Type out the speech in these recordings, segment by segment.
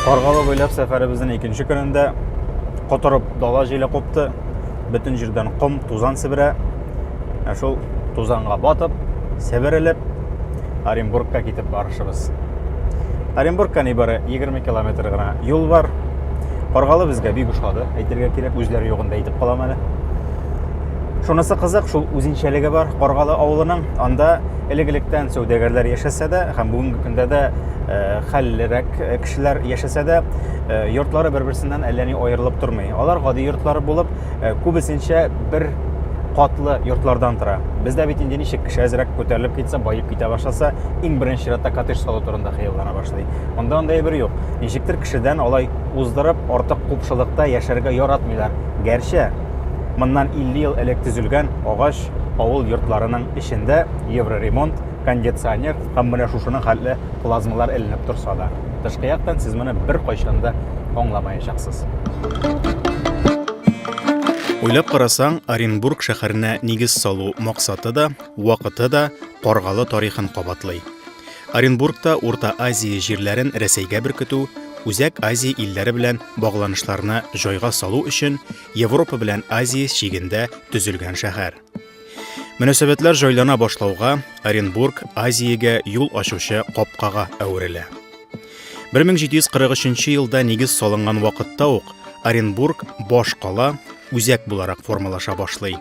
Каргалы буйлап сәфәребезнең икенче көнендә котырып дала җиле купты. Бөтен җирдән ком, тузан себерә. Ә шул тузанга батып, себерелеп Оренбургка китеп барышыбыз. Оренбургка нибары 20 километр гына юл бар. Каргалы безгә бик ошады. Әйтергә кирәк, үзләре югында әйтеп калам әле. Шунысы кызык, шул үзенчәлеге бар Каргалы авылының. Анда элек-электән сәүдәгәрләр яшәсә дә, һәм бүгенге көндә дә э, хәллерәк э, кешеләр яшәсә дә, э, йортлары бер-берсеннән әллә ни аерылып тормый. Алар гади йортлары булып, күбесенчә бер катлы йортлардан тора. Бездә бит инде ничек кеше әзрәк күтәрелеп китсә, баеп китә башласа, иң беренче чиратта коттедж салу турында хыяллана башлый. Монда андай бер юк. Ничектер кешедән алай уздырып, артык купшылыкта яшәргә яратмыйлар. Гәрчә Моннан 50 ел элек төзелгән агач авыл йортларының эчендә евроремонт, кондиционер һәм менә шушының хәтле плазмалар эленеп торса да, тышкы яктан сез моны бер кайчан да аңламаячаксыз. Уйлап карасаң, Оренбург шәһәренә нигез салу максаты да, вакыты да Каргалы тарихын кабатлый. Оренбургта Урта Азия җирләрен Рәсәйгә беркетү, Үзәк Азия илләре белән багланышларны җайга салу өчен Европа белән Азия чигендә төзелгән шәһәр. Мөнәсәбәтләр җайлана башлауга Оренбург Азиягә юл ачучы капкага әверелә. 1743 елда нигез салынган вакытта ук Оренбург баш кала үзәк буларак формалаша башлый.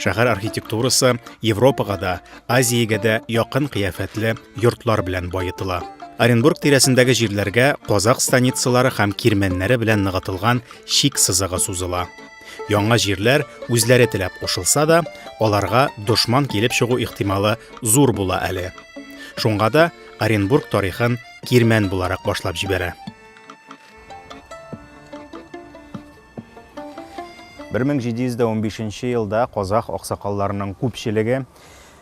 Шәһәр архитектурасы Европага да, Азиягә дә якын кыяфәтле йортлар белән баетыла. Оренбург тирәсендәге җирләргә казак станицалары һәм кирмәннәре белән ныгытылган чик сызыгы сузыла. Яңа җирләр үзләре теләп кушылса да, аларга дошман килеп чыгу ихтималы зур була әле. Шуңа да Оренбург тарихын кирмән буларак башлап җибәрә. 1715 нче елда казах аксакалларының күпчелеге,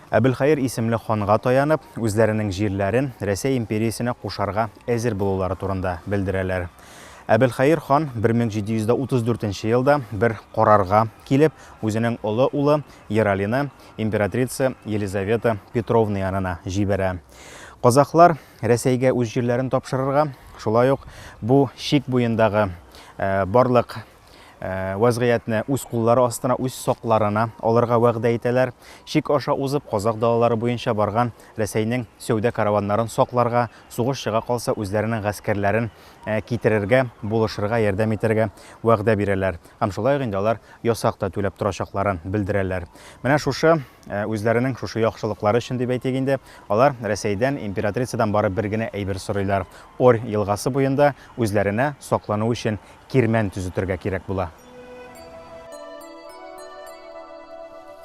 Әбелхаир исемле ханга таянып, үзләренең җирләрен Рәсәй империясенә кушарга әзер булулары турында белдерәләр. Әбелхаир хан 1734 нче елда бер карарга килеп, үзенең олы улы Ералины императрица Елизавета Петровна янына җибәрә. Казахлар Рәсәйгә үз җирләрен тапшырырга, шулай ук бу чик буендагы барлык вәзгыятьне үз куллары астына, үз сакларына алырга вәгъдә итәләр. Чик аша узып, казах далалары буенча барган Рәсәйнең сәүдә караваннарын сакларга, сугыш чыга калса, үзләренең гаскәрләрен китерергә, булышырга, ярдәм итәргә вәгъдә бирәләр. Һәм шулай ук инде алар ясак та түләп торачакларын белдерәләр. Менә шушы Ә үзләренең шушы яхшылыклары өчен дип әйтик инде, алар Рәсәйдән, императрицадан бары бер генә әйбер сорыйлар, Орь елгасы буенда үзләренә саклану өчен кирмән төзетергә кирәк була.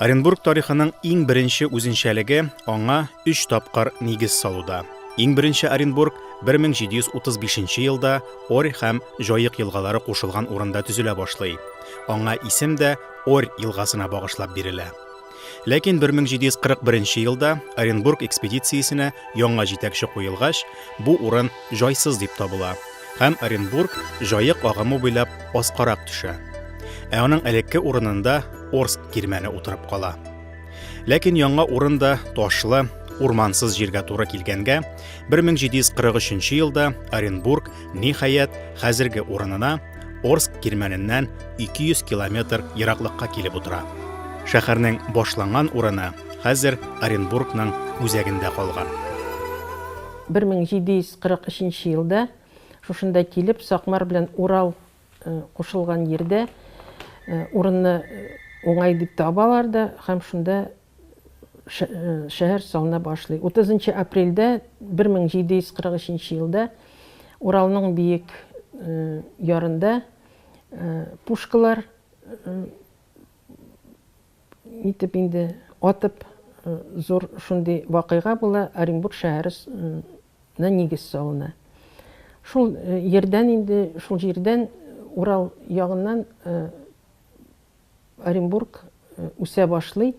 Оренбург тарихының иң беренче үзенчәлеге аңа өч тапкыр нигез салуда. Иң беренче Оренбург 1735 елда Орь һәм Җаек елгалары кушылган урында төзелә башлый. Аңа исем дә, Орь елгасына багышлап бирелә. Ләкин 1741 елда Оренбург экспедициясенә яңа җитәкче куелгач, бу урын җайсыз дип табыла һәм Оренбург җаек агымы буйлап аскарак төшә. Ә аның элекке урынында Орск кирмәне утырып кала. Ләкин яңа урын да ташлы, урмансыз җиргә туры килгәнгә, 1743 елда Оренбург Ниһаять, хәзерге урынына Орск кирмәненнән 200 километр ераклыкка килеп утыра. Шәһәрнең башланган урыны хәзер Оренбургның үзәгендә калган. 1743 елда шушында килеп, Сакмар белән Урал кушылган йирдә урынны уңай дип табалар да һәм шунда шәһәр салына башлый. Утызынчы апрельдә, 1743 елда Уралның биек ярында пушкалар нитеп инде атып зур шундый вакыйга була, Оренбург шәһәре на нигез салына. Шул э, ердән инде, шул җирдән э, Урал ягыннан э, Оренбург үсә башлый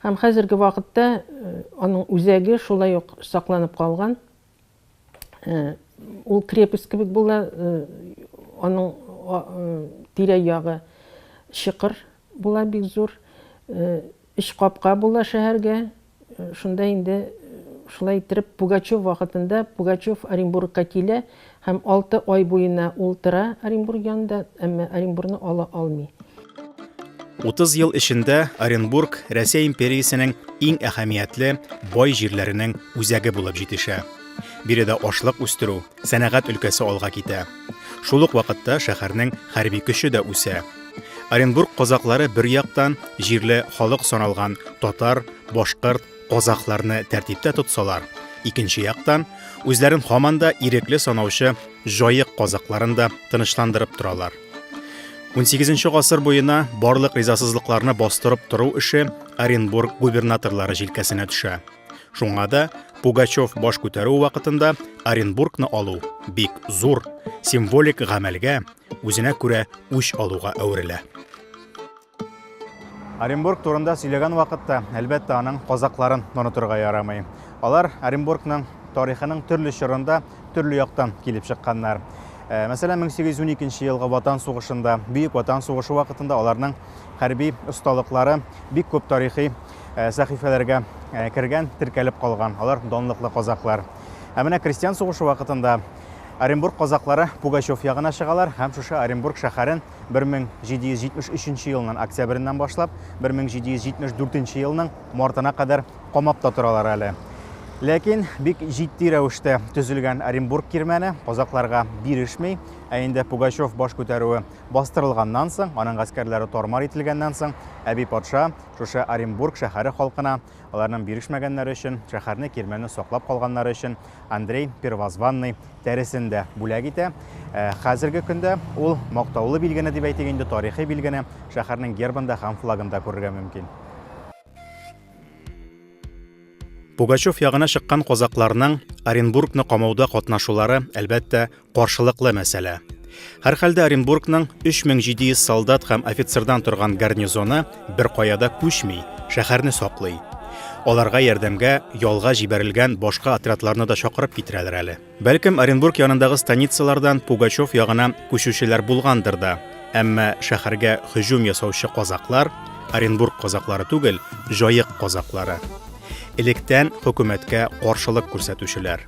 һәм хәзерге вакытта аның үзәге шулай ук сакланып калган. Ул крепость кебек була, аның тирә-ягы чокыр була бик зур. Өч капка була шәһәргә, Шунда инде шулай иттереп Пугачев вакытында Пугачев Оренбургка килә һәм алты ай буена ул тора Оренбург янында, әмма Оренбургны ала алмый. Утыз ел эчендә Оренбург Рәсәй империясенең иң әһәмиятле, бай җирләренең үзәге булып җитешә. Биредә ашлык үстерү, Сәнәгать өлкәсе алга китә. Шул ук вакытта шәһәрнең хәрби көче дә үсә. Оренбург казаклары бер яктан җирле халык саналган татар, башкорт, казахларны тәртиптә тотсалар, икенче яктан, үзләрен һаман да ирекле санаучы җаек казакларын да тынычландырып торалар. Унсигезенче гасыр буена барлык ризасызлыкларны бастырып тору эше Оренбург губернаторлары җилкәсенә төшә. Шуңа да Пугачев баш күтәрү вакытында Оренбургны алу бик зур символик гамәлгә, үзенә күрә үч алуга әверелә. Оренбург турында сөйләгән вакытта, әлбәттә, аның казакларын онытырга ярамый. Алар Оренбургның тарихының төрле чорында төрле яктан килеп чыкканнар. Э, мәсәлән, 1812 елгы Ватан сугышында, Бөек Ватан сугышы вакытында аларның хәрби осталыклары бик күп тарихи Э, сәхифәләргә э, кергән, теркәлеп калган. Алар данлыклы казаклар. Ә менә крестьян сугышы вакытында Оренбург казаклары Пугачев ягына чыгалар һәм шушы Оренбург шәһәрен 1773 елның октябреннән башлап 1774 елның мартына кадәр камап та торалар әле. Ләкин бик җитди рәвештә төзелгән Оренбург кирмәне казакларга бирешми, ә инде Пугачев баш күтәрүе бастырылганнан соң, аның гаскәрләре тормар ителгәннән соң, әби патша Шушы Оренбург шәһәре халкына, аларның бирешмәгәннәре өчен, шәһәрне, кирмәнне саклап калганнары өчен Андрей Первозванный тәресен дә бүләк итә. Ә, хәзерге көндә ул мактаулы билгене дип әйтик инде, тарихи билгене шәһәрнең гербында һәм флагында күрергә мөмкин. Пугачев ягына чыккан казакларның Оренбургны камауда катнашулары, әлбәттә, Каршылыклы мәсьәлә. Һәрхәлдә Оренбургның 3700 солдат һәм офицердан торган гарнизоны бер каяда күчми, шәһәрне саклый. Аларга ярдәмгә ялга җибәрелгән башка отрядларны да чакырып китерәләр әле. Бәлкем, Оренбург янындагы станицалардан Пугачев ягына күчүчеләр булгандыр да, әмма шәһәргә һөҗүм ясаучы казаклар Оренбург казаклары түгел, Җаек казаклары. Электән хөкүмәткә каршылык күрсәтүчеләр.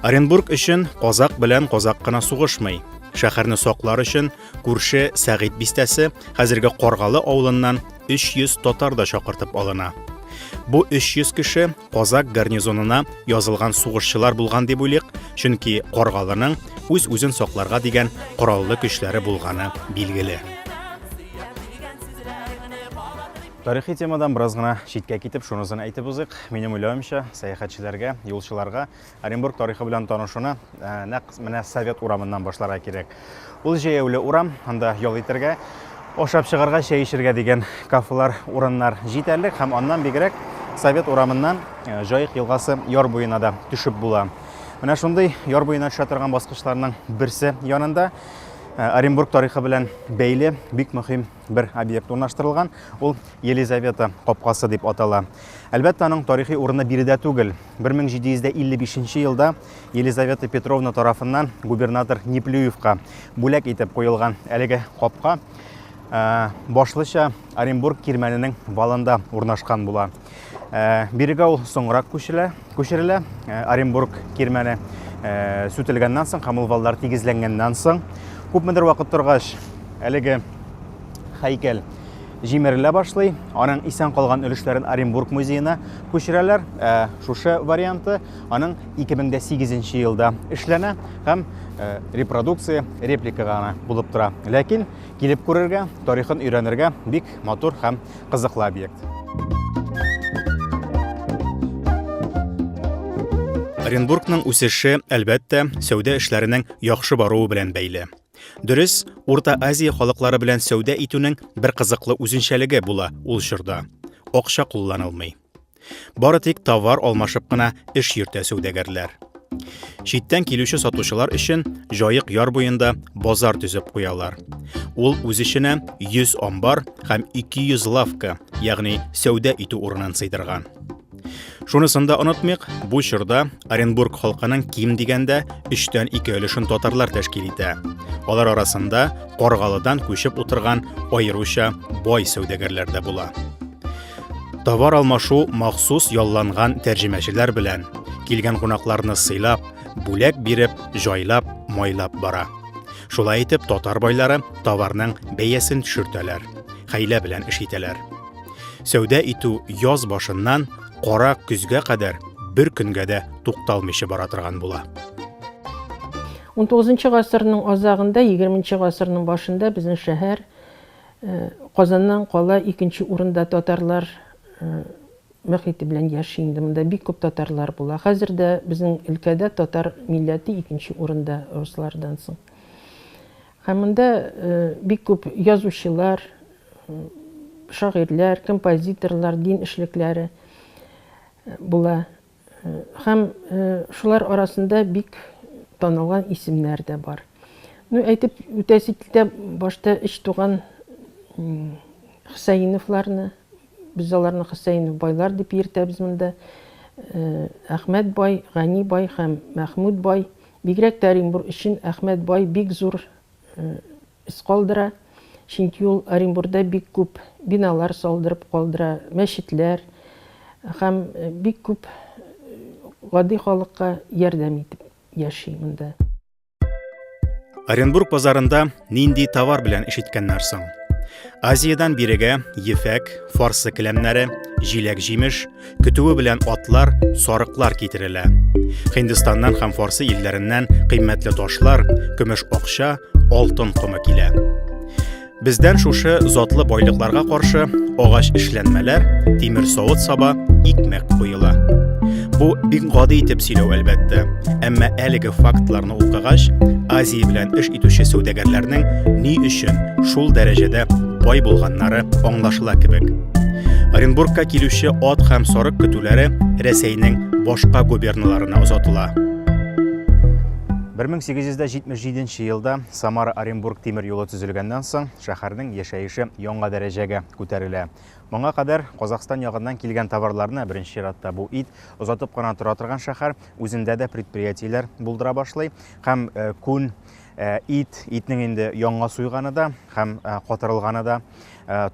Оренбург өчен казак белән казак кына сугышмый. Шәһәрне саклар өчен күрше Сәгыйть бистәсе, хәзерге Каргалы авылыннан 300 татар да чакыртып алына. Бу 300 кеше казак гарнизонына язылган сугышчылар булган дип уйлыйк, чөнки Каргалының үз-үзен сакларга дигән кораллы көчләре булганы билгеле. Тарихи темадан бераз гына читкә китеп, шунысын әйтеп узыйк. Минем уйлавымча, сәяхәтчеләргә, юлчыларга Оренбург тарихы белән танышуны э, нәкъ менә Совет урамыннан башларга кирәк. Ул җәяүле урам, анда ял итәргә, ашап чыгарга, чәй эчәргә дигән кафелар, урыннар җитәрлек һәм аннан бигрәк Совет урамыннан э, Җаек елгасы яр буена да төшеп була. Менә шундый яр буена төшә торган баскычларның берсе янында Э, Оренбург тарихы белән бәйле бик мөһим бер объект урнаштырылган. Ул Елизавета капкасы дип атала. Әлбәттә, аның тарихи урыны биредә түгел. 1755 елда Елизавета Петровна тарафыннан губернатор Неплюевка бүләк итеп куелган әлеге капка э, башлыча Оренбург кирмәненең валында урнашкан була. Э, бирегә ул соңрак күчелә, күчерелә. Э, Оренбург кирмәне э, сүтелгәннән соң һәм ул валлар тигезләнгәннән соң күпмедер вакыт торгач, әлеге һәйкәл җимерелә башлый. Аның исән калган өлешләрен Оренбург музеена күчерәләр. Шушы варианты аның 2008 елда эшләнә һәм репродукция, реплика гына булып тора. Ләкин килеп күрергә, тарихын өйрәнергә бик матур һәм кызыклы объект. Оренбургның үсеше, әлбәттә, сәүдә эшләренең яхшы баруы белән бәйле. Дөрес, Урта Азия халыклары белән сәүдә итүнең бер кызыклы үзенчәлеге була ул чорда. Акча кулланылмый. Бары тик товар алмашып кына эш йөртә сәүдәгәрләр. Читтән килүче сатучылар өчен җаек яр буенда базар төзеп куялар. Ул үз эченә 100 амбар һәм 200 лавка, ягъни сәүдә итү урынын сыйдырган. Шунысын да онытмыйк, бу чорда Оренбург халкының ким дигәндә өчтән ике өлешен татарлар тәшкил итә. Алар арасында Каргалыдан күчеп утырган аеруча бай сәүдәгәрләр дә була. Товар алмашу махсус ялланган тәрҗемәчеләр белән килгән кунакларны сыйлап, бүләк биреп, җайлап, майлап бара. Шулай итеп татар байлары товарның бәясен төшертәләр, хәйлә белән эш итәләр. Сәүдә итү яз башыннан кара көзгә кадәр бер көнгә дә тукталмыйча бара торган була. XIX гасырның азагында, XX гасырның башында безнең шәһәр Казаннан кала икенче урында татарлар мөхите белән яши инде. Монда бик күп татарлар була. Хәзер дә безнең өлкәдә татар милләте икенче урында руслардан соң. Һәм монда бик күп язучылар, шагыйрьләр, композиторлар, дин эшлекләре була. Һәм шулар арасында бик танылган исемнәр дә бар. Ну, әйтеп үтәсе китә, башта эч туган Хсәиновларны, без аларны Хсәинов байлар дип йөртәбез монда. Әхмәт бай, Гани бай һәм Мәхмүд бай. Бигрәк тә Оренбур өчен Әхмәт бай бик зур эз калдыра, чөнки ул Оренбурда бик күп биналар салдырып калдыра, мәчетләр һәм бик күп гади халыкка ярдәм итеп яши монда. Оренбург базарында нинди товар белән эш иткәннәр соң? Азиядән бирегә ефәк, фарсы келәмнәре, җиләк-җимеш, Көтүе белән атлар, сарыклар китерелә. Хиндистаннан һәм Фарсы илләреннән кыйммәтле ташлар, көмеш акча, алтын комы килә. Бездән шушы затлы байлыкларга каршы агач эшләнмәләр, тимер савыт саба, икмәк куела. Бу бик гади итеп сөйләү әлбәттә, әмма әлеге фактларны укыгач, Азия белән эш итүче сәүдәгәрләрнең ни өчен шул дәрәҗәдә бай булганнары аңлашыла кебек. Оренбургка килүче ат һәм сарык көтүләре Рәсәйнең башка губерналарына озатыла. 1877 елда Самара Оренбург тимер юлы төзелгәннән соң шәһәрнең яшәеше яңа дәрәҗәгә күтәрелә. Моңа кадәр Казахстан ягыннан килгән товарларны, беренче чиратта бу ит, озатып кына тора торган шәһәр үзендә дә предприятиеләр булдыра башлый һәм күн ит итнең инде яңа суйганы да һәм катырылганы да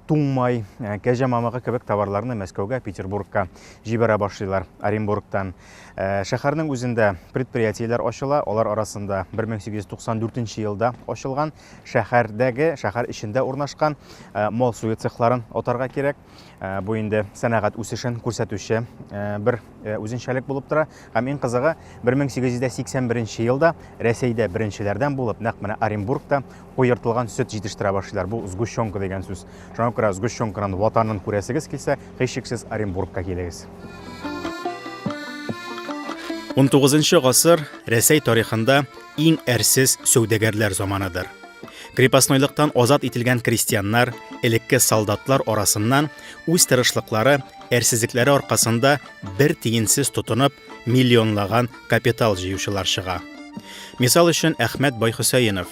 туңмай кәҗә мамыгы кебек товарларны мәскәүгә петербургка җибәрә башлыйлар оренбургтан шәһәрнең үзендә предприятиеләр ачыла алар арасында 1894 елда ачылган шәһәрдәге шәһәр эчендә урнашкан мал суе цехларын атарга кирәк Э, бу инде сәнәгать үсешен күрсәтүче э, бер э, үзенчәлек булып тора һәм иң кызыгы 1881 елда рәсәйдә беренчеләрдән булып нәкъ менә оренбургта куертылган сөт җитештерә башлыйлар бу сгущенка дигән сүз шуңа күрә сгущенканың ватанын күрәсегез килсә һичшиксез оренбургка килегез 19 гасыр рәсәй тарихында иң әрсез сәүдәгәрләр заманыдыр Крепостнойлыктан азат ителгән крестьяннар, элекке солдатлар арасыннан үз тырышлыклары, әрсезлекләре аркасында бер тиенсез тотынып, миллионлаган капитал җыючылар чыга. Мисал өчен Әхмәт Байхөсәенов.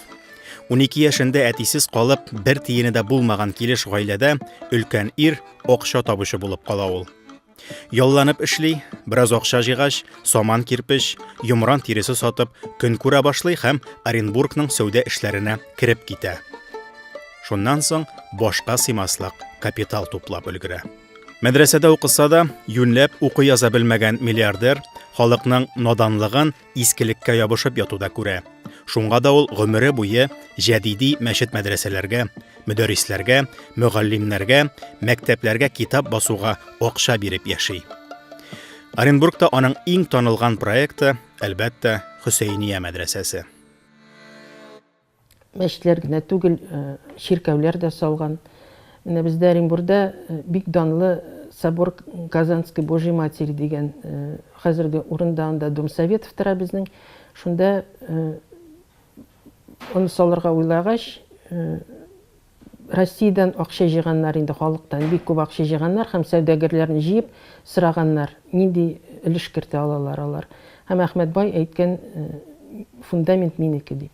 12 яшендә әтисез калып, бер тиене дә булмаган килеш гаиләдә өлкән ир, акча табучы булып кала ул. Ялланып эшли, бераз акча җыйгач, саман кирпеч, йомран тиресе сатып, көн күрә башлый һәм Оренбургның сәүдә эшләренә кереп китә. Шуннан соң башка сыймаслык капитал туплап өлгерә. Мәдрәсәдә укыса да, юньләп укый яза белмәгән миллиардер халыкның наданлыгын искелеккә ябышып яту да күрә. Шуңа да ул гомере буе җәдиди мәчет-мәдрәсәләргә, мөдәррисләргә, мөгаллимнәргә, мәктәпләргә китап басуга акча биреп яши. Оренбургта аның иң танылган проекты, әлбәттә, Хөсәйния мәдрәсәсе. Мәчетләр генә түгел, чиркәүләр дә салган. Менә бездә Оренбурда бик данлы собор Казанской Божьей Матери дигән, хәзерге урында анда Дом Советов тора безнең, шунда аны салырга уйлагач, Россиядән акча җыйганнар инде, халыктан бик күп акча җыйганнар һәм сәүдәгәрләрне җыеп сораганнар, нинди өлеш кертә алалар алар. Һәм Әхмәт бай әйткән, фундамент минеке дип.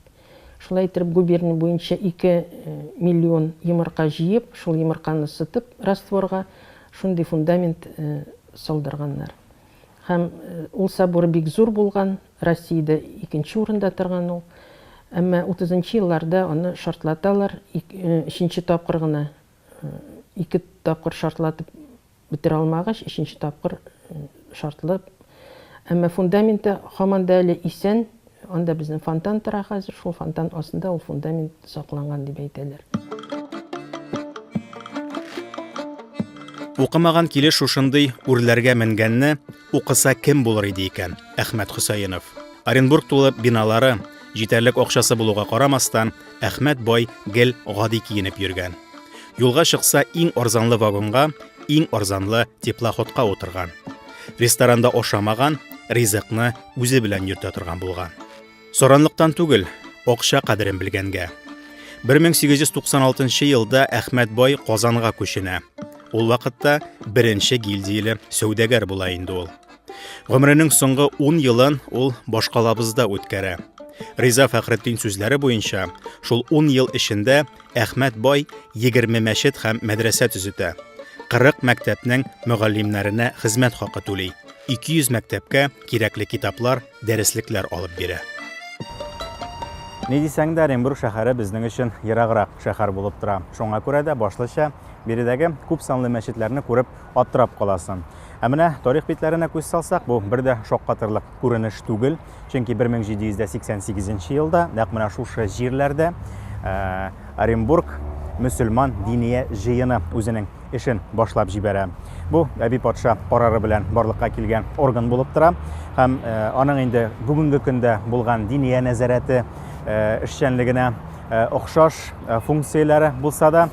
Шулай иттереп губерния буенча ике миллион йомырка җыеп, шул йомырканы сытып растворга, шундый фундамент салдырганнар. Һәм ул собор бик зур булган. Россиядә икенче урында торган ул. Әмма утызынчы елларда аны шартлаталар, өченче тапкыр гына, ике тапкыр шартлатып бетерә алмагач, өченче тапкыр шартлап. Әмма фундаменты һаман да әле исән, анда безнең фонтан тора хәзер, шул фонтан астында ул фундамент сакланган дип әйтәләр. Укымаган килеш шушындый үрләргә менгәнне, Укыса кем булыр иде икән? Әхмәт Хөсәенов. Оренбург тулып биналары, җитәрлек акчасы булуга карамастан, Әхмәт бай гел гади киенеп йөргән. Юлга чыкса, иң арзанлы вагонга, иң арзанлы теплоходка утырган. Ресторанда ашамаган, ризыкны үзе белән йөртә торган булган. Соранлыктан түгел, акча кадерен белгәнгә. 1896 елда Әхмәт бай Казанга күченә. Ул вакытта беренче гильдияле сәүдәгәр була инде ул. Гомренең соңгы 10 елын ул башкалабызда үткәрә. Риза Фәхретдин сүзләре буенча, шул 10 ел эчендә Әхмәт бай 20 мәчет һәм мәдрәсә төзетә. 40 мәктәпнең мөгаллимнәренә хезмәт хакы түли. 200 мәктәпкә кирәкле китаплар, дәреслекләр алып бирә. Ни дисәң дә, Оренбург шәһәре безнең өчен ераграк шәһәр булып тора. Шуңа күрә дә башлыча биредәге күп санлы мәчетләрне күреп аптырап каласың. Ә менә тарих битләренә күз салсак, бу бер дә шаккатырлык күренеш түгел, чөнки 1788 елда нәкъ менә шушы җирләрдә Оренбург мөселман диния җыены үзенең эшен башлап җибәрә. Бу әби патша карары белән барлыкка килгән орган булып тора һәм э, аның инде бүгенге көндә булган диния нәзарәте э, эшчәнлегенә э, охшаш функцияләре булса да,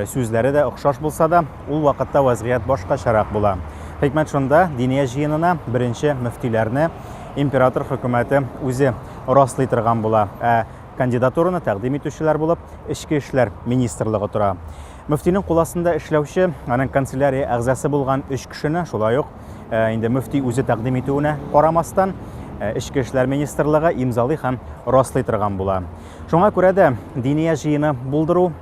сүзләре дә охшаш булса да, ул вакытта вазгыять башкачарак була. Хикмәт шунда, диния җыенына беренче мөфтиләрне император хөкүмәте үзе раслый торган була. Ә кандидатураны тәкъдим итүчеләр булып Эчке эшләр министрлыгы тора. Мөфтинең кул астында эшләүче, аның канцелярия әгъзасы булган өч кешене, шулай ук э, инде мөфти үзе тәкъдим итүенә карамастан, э, Эчке эшләр министрлыгы имзалый һәм раслый торган була. Шуңа күрә дә диния җыены булдыру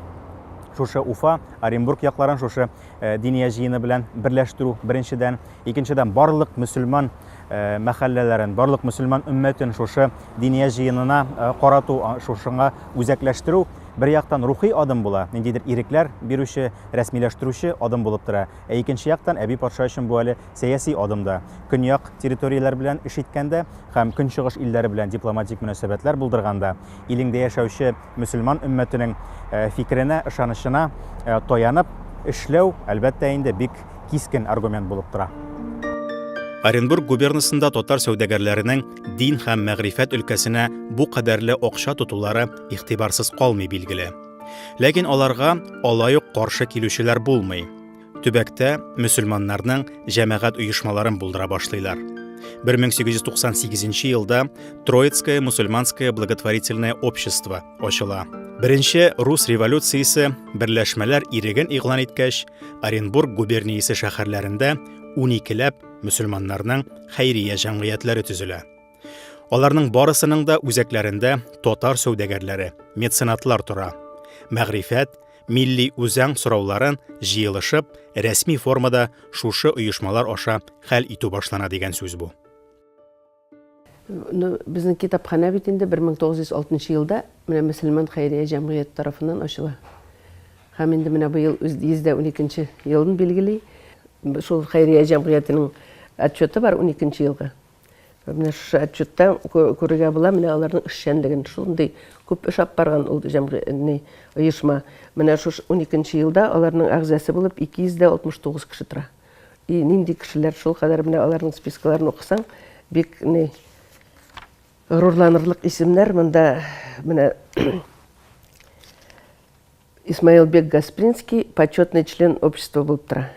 шушы Уфа, Оренбург якларын шушы э, диния җыены белән берләштерү беренчедән, икенчедән барлык мөселман мәхәлләләрен, барлык мөселман өммәтен шушы диния җыенына карату, шушыңа үзәкләштерү бер яктан рухи адым була, ниндидер ирекләр бирүче, рәсмиләштерүче адым булып тора. Ә икенче яктан әби патша өчен бу әле сәяси адым да. Көньяк территорияләр белән эш иткәндә һәм көнчыгыш илләре белән дипломатик мөнәсәбәтләр булдырганда, илеңдә яшәүче мөселман өммәтенең фикеренә, ышанычына таянып эшләү, әлбәттә инде, бик кискен аргумент булып тора. Оренбург губернасында татар сәүдәгәрләренең дин һәм мәгърифәт өлкәсенә бу кадәрле акча тотулары игътибарсыз калмый билгеле. Ләкин аларга алай ук каршы килүчеләр булмый. төбәктә мөселманнарның җәмәгать оешмаларын булдыра башлыйлар. 1898 елда Троицкое мусульманское благотворительное общество ачыла. Беренче рус революциясе берләшмәләр иреген игълан иткәч, Оренбург губерниясе шәһәрләрендә 12 ләп мөселманнарның хәйрия җәмгыятьләре төзелә. Аларның барысының да үзәкләрендә татар сәүдәгәрләре, меценатлар тора. Мәгърифәт, милли үзаң сорауларын җыелышып, рәсми формада шушы оешмалар аша хәл итү башлана дигән сүз бу. Ну, безнең китапханә бит инде 1906 елда менә мөселман хәйрия җәмгыяте тарафыннан ачыла. Һәм инде менә быел үз 112 елын билгели. Шул хәйрия җәмгыятенең отчеты бар 12 елгы. Менә шушы отчетта күрергә була, менә аларның эшчәнлеген. Шундый күп эш алып барган ул җәмгыятьне, оешма. Менә шушы 12 елда аларның әгъзасы булып 269 кеше тора. И нинди кешеләр шул кадәр менә аларның спискаларын укысаң, бик ни горурланырлык исемнәр монда менә Исмаилбек Гаспринский почетный член общества булып тора.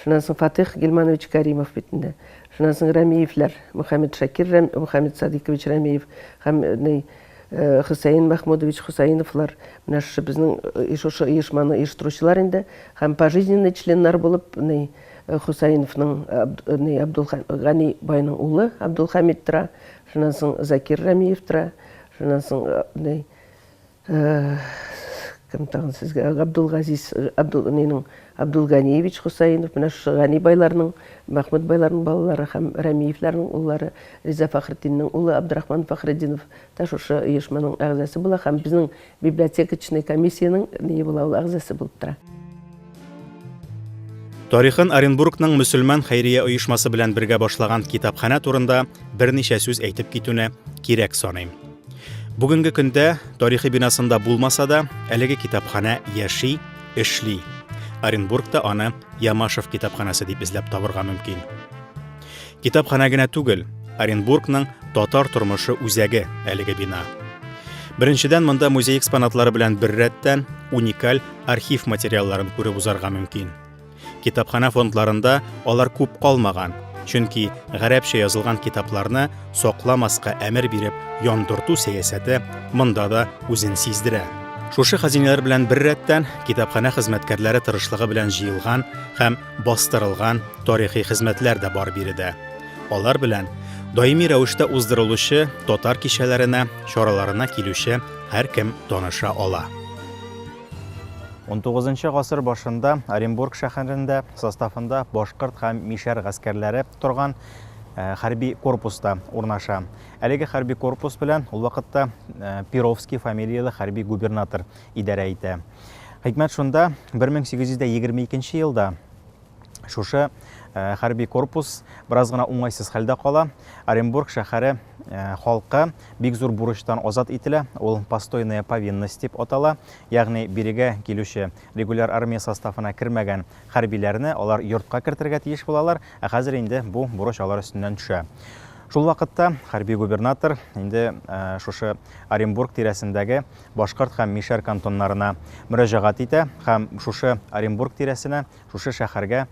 Шуннан соң Фатих Гилманович Кәримов бит инде. Шуннан соң Рәмиевләр, Мөхәммәд Шакир Рәм, Мөхәммәд Садыйкович Рәмиев һәм ни э, Хөсәен Мәхмудович Хусаиновлар менә шушы безнең э, шушы оешманы оештыручылар инде һәм пожизненный членнар булып ни э, Хусаиновның э, Абд- э, ни Абдулхан Гани байның улы Абдулхамид тора. Шуннан соң Закир Рәмиев тора. Шуннан соң э, ни Кем тагын сезгә? Габдулгазиз, Абдул, нинең, Абдулганиевич Хусаинов, менә шушы Гани байларның, Мәхмүд байларның балалары һәм Рәмиевләрнең уллары, Риза Фәхретдиннең улы Абдрахман Фәхретдинов та шушы оешманың әгъзасы була һәм безнең библиотекачный комиссиянең ние була, ул әгъзасы булып тора. Тарихын Оренбургның мөселман хәйрия оешмасы белән бергә башлаган китапханә турында берничә сүз әйтеп китүне кирәк саныйм. Бүгенге көндә тарихи бинасында булмаса да, әлеге китапханә яши, эшли. Оренбургта аны Ямашев китапханәсе дип эзләп табырга мөмкин. Китапханә генә түгел, Оренбургның татар тормышы үзәге әлеге бина. Беренчедән монда музей экспонатлары белән бер рәттән уникаль архив материалларын күреп узарга мөмкин. Китапханә фондларында алар күп калмаган, чөнки гарәпчә язылган китапларны сакламаска әмер биреп яндырту сәясәте монда да үзен сиздерә. Шушы хәзинәләр белән бер рәттән китапханә хезмәткәрләре тырышлыгы белән җыелган һәм Бастырылган тарихи хезмәтләр дә бар биредә. Алар белән даими рәвештә уздырылучы татар кичәләренә, чараларына килүче һәркем таныша ала. 19 гасыр башында Оренбург шәһәрендә составында башкорт һәм мишәр гаскәрләре торган э, хәрби корпуста урнаша. Әлеге хәрби корпус белән ул вакытта э, Перовский фамилияле хәрби губернатор идарә итә. Хикмәт шунда, 1822 елда шушы хәрби корпус бераз гына уңайсыз хәлдә кала. Оренбург шәһәре халкы бик зур бурычтан азат ителә. Ул постойная повинность дип атала. Ягъни бирегә килүче регуляр армия составына кермәгән хәрбиләрне алар йортка кертергә тиеш булалар. Ә хәзер инде бу бурыч алар өстеннән төшә. Шул вакытта хәрби губернатор инде шушы Оренбург тирәсендәге Башкорт һәм Мишәр кантоннарына мөрәҗәгать итә һәм шушы Оренбург тирәсенә, шушы шәһәргә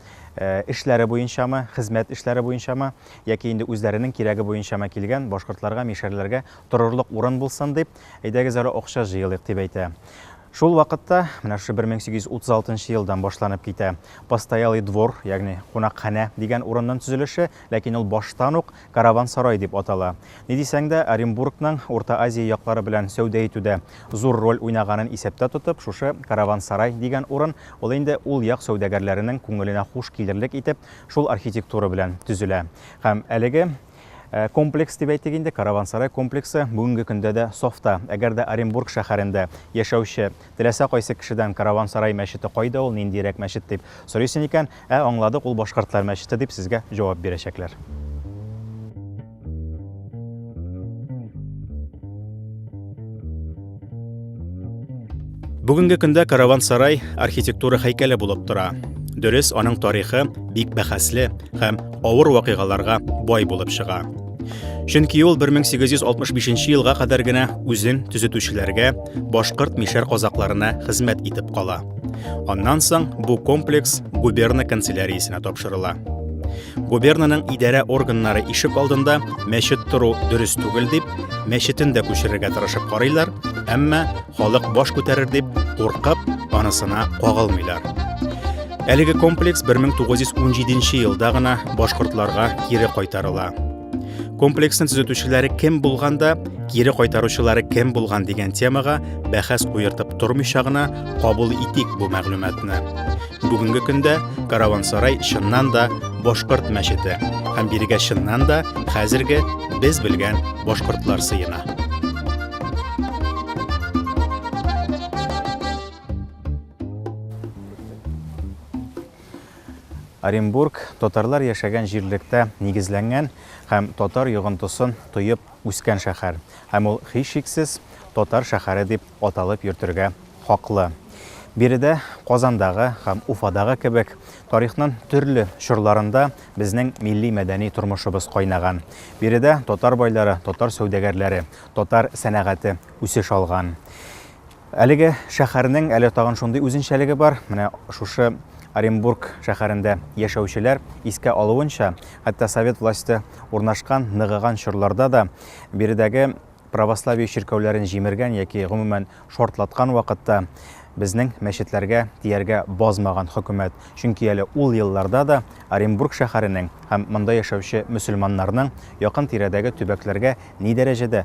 эшләре буенчамы, хезмәт эшләре буенчамы, яки инде үзләренең кирәге буенчамы килгән башкортларга, мишәрләргә торырлык урын булсын дип, әйдәгез әле акча җыелыйк дип әйтә. Шул вакытта, менә шушы 1836 елдан башланып китә, постоялый двор, ягъни кунакханә дигән урынның төзелеше, ләкин ул баштан ук Караван-сарай дип атала. Ни дисәң дә, Оренбургның Урта Азия яклары белән сәүдә итүдә зур роль уйнаганын исәптә тотып, шушы Караван-сарай дигән урын, ул инде ул як сәүдәгәрләренең күңеленә хуш килерлек итеп, шул архитектура белән төзелә. Һәм әлеге комплекс дип әйтик инде, Караван-сарай комплексы бүгенге көндә дә сафта. Әгәр дә Оренбург шәһәрендә яшәүче Теләсә кайсы кешедән Караван-сарай мәчете кайда ул, ниндиерәк мәчет дип сорыйсын икән, ә, аңладык, ул башкортлар мәчете дип сезгә җавап бирәчәкләр. Бүгенге көндә Караван-сарай архитектура һәйкәле булып тора. Дөрес, аның тарихы бик бәхәсле һәм авыр вакыйгаларга бай булып чыга. Чөнки ул 1865 елга кадәр генә үзен төзетүчеләргә, башкорт мишәр казакларына хезмәт итеп кала. Аннан соң бу комплекс губерна канцеляриясенә тапшырыла. Губернаның идарә органнары ишек алдында мәчет тору дөрес түгел дип, мәчетен дә күчерергә тырышып карыйлар, әмма халык баш күтәрер дип куркып, анысына кагылмыйлар. Әлеге комплекс 1917 елда гына башкортларга кире кайтарыла. Комплексны төзетүчеләре кем булганда, кире кайтаручылары кем булган дигән темага бәхәс куертып тормыйча гына кабул итик бу мәгълүматны. Бүгенге көндә Каравансарай чыннан да башкорт мәчете һәм бирегә чыннан да хәзерге без белгән башкортлар сыена. Оренбург татарлар яшәгән җирлектә нигезләнгән һәм татар йогынтысын тоеп үскән шәһәр. Һәм ул һичшиксез татар шәһәре дип аталып йөртергә хаклы. Биредә Казандагы һәм Уфадагы кебек тарихның төрле чорларында безнең милли мәдәни тормышыбыз кайнаган. Биредә татар байлары, татар сәүдәгәрләре, татар сәнәгате үсеш алган. Әлеге шәһәрнең әле тагын шундый үзенчәлеге бар. Менә шушы Оренбург шәһәрендә яшәүчеләр искә алуынча, хәтта совет власте урнашкан ныгыган чорларда да биредәге православие чиркәүләрен җимергән яки гомумән шартлаткан вакытта безнең мәчетләргә тияргә базмаган хөкүмәт. Чөнки әле ул елларда да Оренбург шәһәренең һәм монда яшәүче мөселманнарның якын тирәдәге төбәкләргә ни дәрәҗәдә